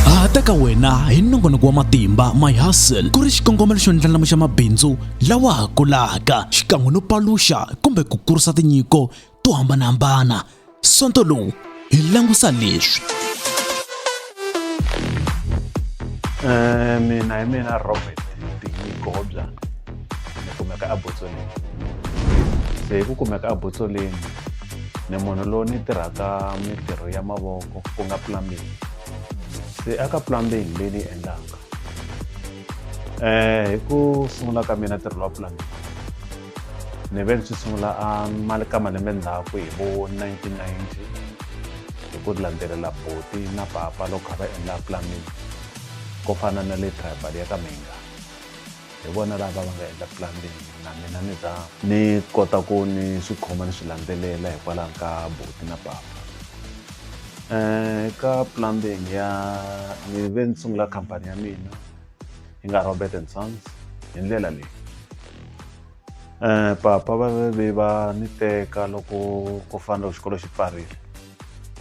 ha ta ka wena hi nongonoko wa matimba my hustle ku ri xikongomelo xo ndlandlamuxa mabindzu lawa ha kulaka xikan'we no paluxa kumbe ku kurisa tinyiko to hambanahambana sonto lowu hi langusa leswi Eh, mina hi mina robert tinyiko hobya ni kumeka abotsoleni se hi ku kumeka abotsoleni ni munhu lowu ni tirhaka mintirho ya mavoko ku nga plumbing se aka plumbing leyi ni endlaka um hi ku sungula ka mina ntirho lowa plumbing ni ve ni swi sungula a mali ka malembe ndzhaku hi vo 1990 hi ku landzelela boti na papa loko kha va endla plumbing ko fana na le tribal ya ka minga hi vona lava va nga endla plan leyi na mina ni za ni kota ku ni swi khoma ni swi landzelela hikwalaho ka buti na papa um ka plumbing ya ni ve ni sungula khampani ya mina yi nga robert and sons hi ndlela leyi um papa va ve ve va ni teka loko ku fanele xikolo xi pfarile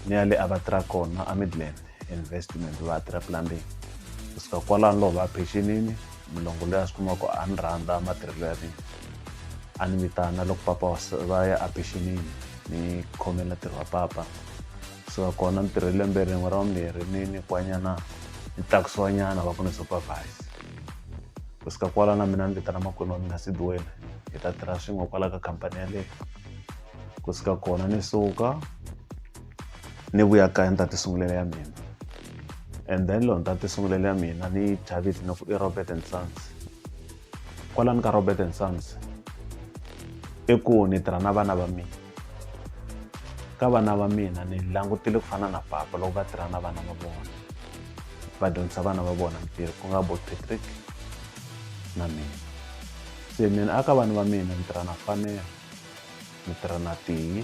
ni ya le a va tirha kona a midland investment va tirha plumbing kusuka kwalano loko va pechinini mulongo loyi a swi kuma ku a ni rhandza matirhelo ya mina a ni vitana loko papa va ya a pechinini ni khomela ntirho wa papa kusuka kona ni tirhe lembe rin'we ra vumbirhi ni nyikiwanyana ni tlakusiwanyana va ku ni supervise kusuka kwala na mina ni vitana makwenu wa mina sidiwena hi ta tirha swin'we kwala ka khampani yaleyo kusuka kona ni suka ni vuya kaya ni ta ti sungulela ya mina and then loko ni ta ti sungulela ya mina ni yi thya vito ni ku i Robert and Sons kwalani ka Robert and Sons i ku ni tirha na vana va mina ka vana va mina ni langutile ku fana na papa loko va tirha na vana va vona va dyondzisa vana va vona mitirho ku nga bo Patrick na mina se mina aka vana va mina ni tirha na fanelo ni tirha na tihi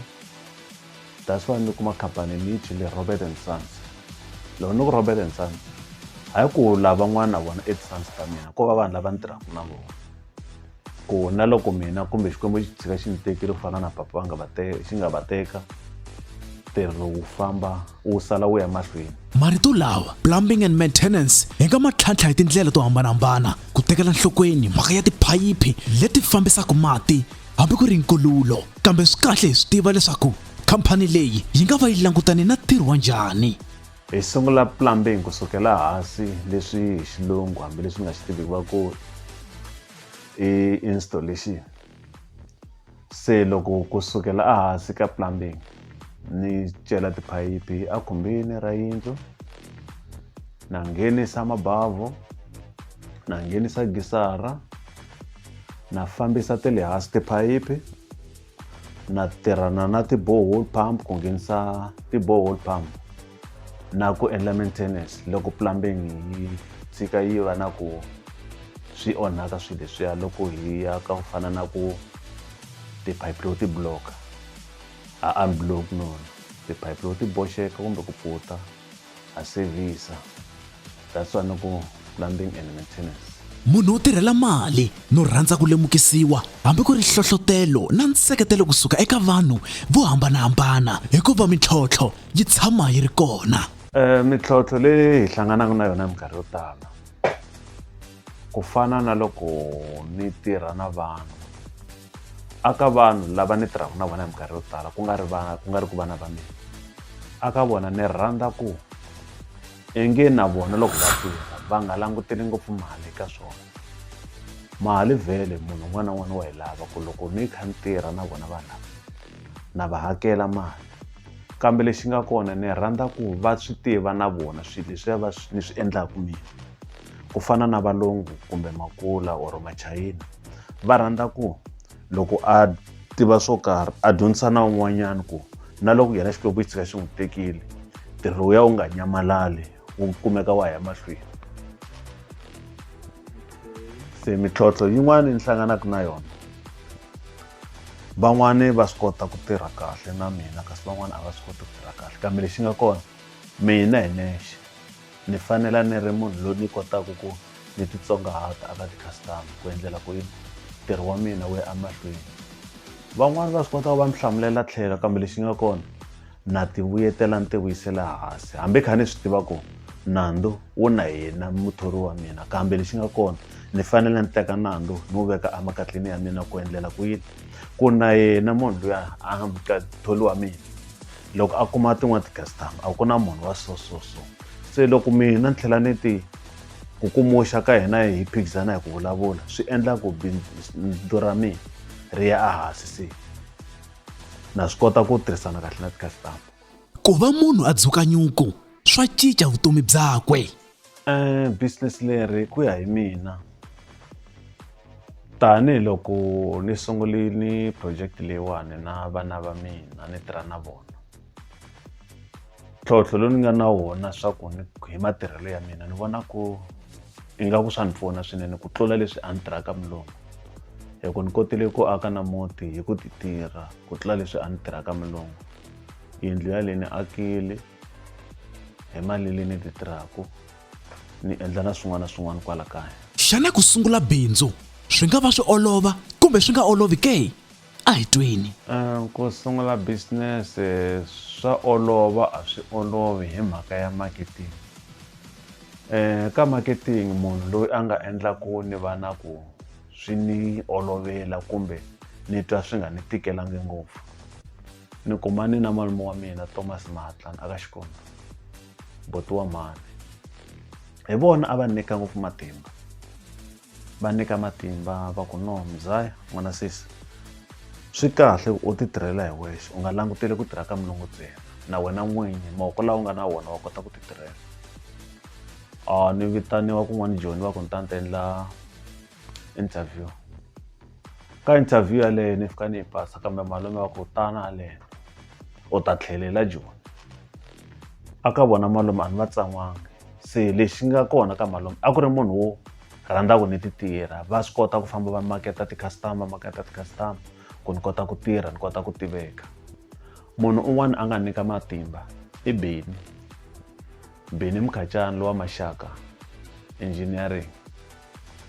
That's why ni kuma khampani ni yi thyi le Robert and Sons. Loko ni ku Robert and Sons, hayi ku lavan'wana na vona i ti-sons ta mina, ko va vanhu lava ni tirhaka na vona. Ku na loko mina kumbe Xikwembu xi tshika xi ni tekile ku fana na papa va nga va xi nga va teka, ntirho wu famba wu sala wu ya mahlweni. Marito lawa plumbing and maintenance hi nga ma tlhantlha hi tindlela to hambanahambana ku tekela nhlokweni mhaka ya tiphayiphi leti fambisaka mati hambi ku ri nkululo kambe swi kahle hi swi tiva leswaku khampani leyi yi nga va yi langutane na ntirho wa njhani hi sungula plumbing ku sukela hansi leswi hi xilungu hambileswi nga xi tiviki va ku i installation Se loko ku sukela ehansi ka plumbing ni cela tiphayiphi a khumbini ra yindlu na nghenisa mabavhu na nghenisa gisara na fambisa te le hansi tiphayiphi na tirhana na ti-borehole pump ku nghenisa ti-borehole pump na ku endla maintenance loko plumbing yi tshika yi va na ku swi onhaka swilo leswiya loko hi ya ka ku fana na ku tiphayiphi loko ti block a unblock nona tiphayiphi loko ti boxeke kumbe ku pfuta ha sevhisa. That's why no ku plumbing and maintenance. munhu wo tirhela mali no rhandza ku lemukisiwa hambi ku ri hlohlotelo na nseketelo kusuka eka vanhu vo hambanahambana hikuva mintlhontlho yi tshama yi ri kona Eh, mintlhontlho leyi hi hlanganaka na yona minkarhi yo tala ku fana na loko ni tirha na vanhu aka vanhu lava ni tirhaka na vona hi minkarhi yo tala ku nga ri va ku nga ri ku vana va mina aka vona ni rhandza ku Ingi na vona loko va tirha va nga languteli ngopfu mali eka swona. Mali vhele munhu un'wana na un'wana wa yi lava ku loko ni kha ni tirha na vona va lava, na va hakela mali. Kambe lexi nga kona ni rhandza ku va swi tiva na vona swilo leswiya va swi ni swi endlaka mina. Ku fana na valungu kumbe makula or machayina, va rhandza ku. loko a tiva swo karhi a dyondzisa na un'wanyana ku na loko yena xikwembu xi tshika xi n'wi tekile ntirho wu ya wu nga nyamalali wu kumeka wa ya mahlweni se mintlhontlho yin'wana yi hlanganaka na yona van'wani va swi kota ku tirha kahle na mina kasi van'wani a va swi koti ku tirha kahle kambe lexi nga kona mina hi nexe Ni fanela ni ri munhu loyi ni kotaka ku ni titsongahata eka ti-customer ku endlela ku yini ntirho wa mina wu ya emahlweni van'wani va swi kota ku va ni hlamulela tlhelo kambe lexi nga kona na ti vuyetela ni ti vuyisela hansi hambi kha ni swi tiva ku nandzu wu na yena muthori wa mina kambe lexi nga kona ni fanele ni teka nandzu ni wu veka emakatleni ya mina ku endlela ku yini ku na yena munhu luya a tholi wa mina loko a kuma tin'wana ti-customer a ku na munhu wa so so so se loko mina ni tlhela ni ti ku kumuxa ka hina hi phikizana hi ku vulavula swi endla ku bindzu ra mina ri ya ehansi se na swi kota ku tirhisana kahle na ti-customer ku va munhu a dzuka nyuku swa cinca vutomi byakwe business leri ku ya hi mina tanihiloko ni sungulini project leyiwani na vana va mina ni tirha na vona tlhontlho lowu ni nga na wona swa ku ni hi matirhelo ya mina ni vona ku ingaku swa ni pfuna swinene ku tlula leswi a ni tirhaka mulungu hi ku ni kotile ku aka na muti hi ku ti tirha ku tlula leswi a ni tirhaka mulungu yindlu ya leyi ni akile hi mali leyi ni ti tirhaka ni endla na swin'wana na swin'wana kwala kaya xana ku sungula bindzu swi nga va swi olova kumbe swi nga olovi ke a hi tweni eh, ku sungula business eh, swa olova a swi olovi hi mhaka ya marketing um ka marketing munhu loyi a nga endlaku ni va na ku swi ni olovela kumbe ni twa swi nga ni tikelanga ngopfu Ni kumane na malume wa mina Thomas Mahatlan aka Xikombo, buti wa mhani. Hi vona a va ni nyika ngopfu matimba. Va nyika matimba va ku no Mzaya n'wana sesi swi kahle ku u ti tirhela hi wexe u nga languteli ku tirha ka mulungu ntsena na wena n'winyi mavoko lawa u nga na wona wa kota ku ti tirhela. A ni vitaniwa kun'wana Joni va ku ni ta ni ta endla interview. ka interview yaleyo ni fika ni yi pasa kambe malume wa ku tana haleno u ta tlhelela joni a ka vona malume a ni va tsan'wanga se lexi nga kona ka malume a ku ri munhu wo rhandza ku ni ti tirha va swi kota ku famba va maketa ti-customer maketa ti-customer ku ni kota ku tirha ni kota ku tiveka munhu un'wana a nga nyika matimba i beni Bennie Mkhatshani lowa Maxaka Engineering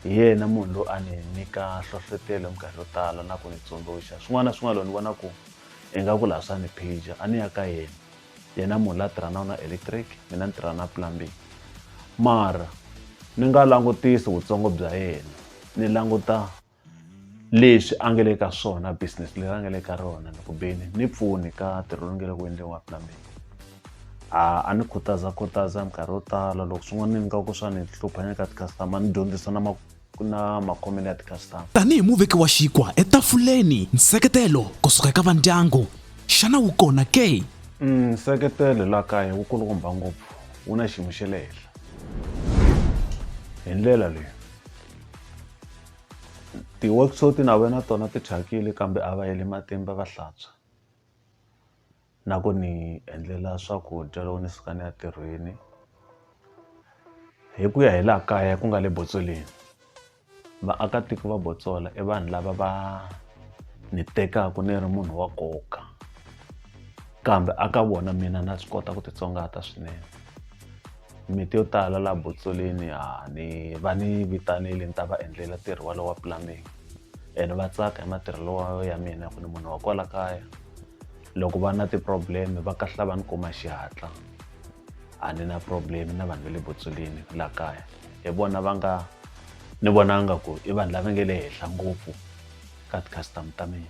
hi yena munhu loyi a ni nyika nhlohlotelo hi minkarhi yo tala na ku ni tsundzuxa swin'wana na swin'wana loko ni vona ku ingaku laha swa ni phija a ni ya ka yena yena munhu la tirhanaka na electric mina ni tirha na plumbing mara ni nga langutisi vutsongo bya yena ni languta leswi a nga le ka swona business leri a nga le ka rona ni ku beni ni pfuni ka ntirho lowu nge le ku endliwa wa plumbing a a ni khutaza khutaza minkarhi yo tala loko swin'wana ni nga ku swa ni hlupha ni ka ti-customer ni dyondzisa na na makhomelo ya ti-customer tanihi muveki wa xikwa etafuleni nseketelo kusuka eka vandyangu xana wu kona ke mm, nseketelo la kaya wu kulukumba ngopfu wu na xiyimo xe le henhla hi ndlela leyi ti-worksuit na vona tona ti thyakile kambe a va heli matimba va hlantswa na ku ni endlela swakudya loko ni suka ni ya tirhweni hi ku ya hi laha kaya ku nga le botsoleni vaakatiko va botsola i vanhu lava va ni tekaka ni ri munhu wa nkoka kambe a ka vona mina na swi kota ku titsongahata swinene. mimiti yo tala laha botsolini ha ni va ni vitanile ni ta va endlela ntirho walowo wa plumbing and va tsaka hi matirhelo wa ya mina ku ni munhu wa kwala kaya loko va na ti-problem va kahlula va ni kuma xihatla a ni na problem na vanhu va le botsolini laha kaya hi vona va nga ni vonanga ku i vanhu lava nga le henhla ngopfu ka ti-customer ta mina.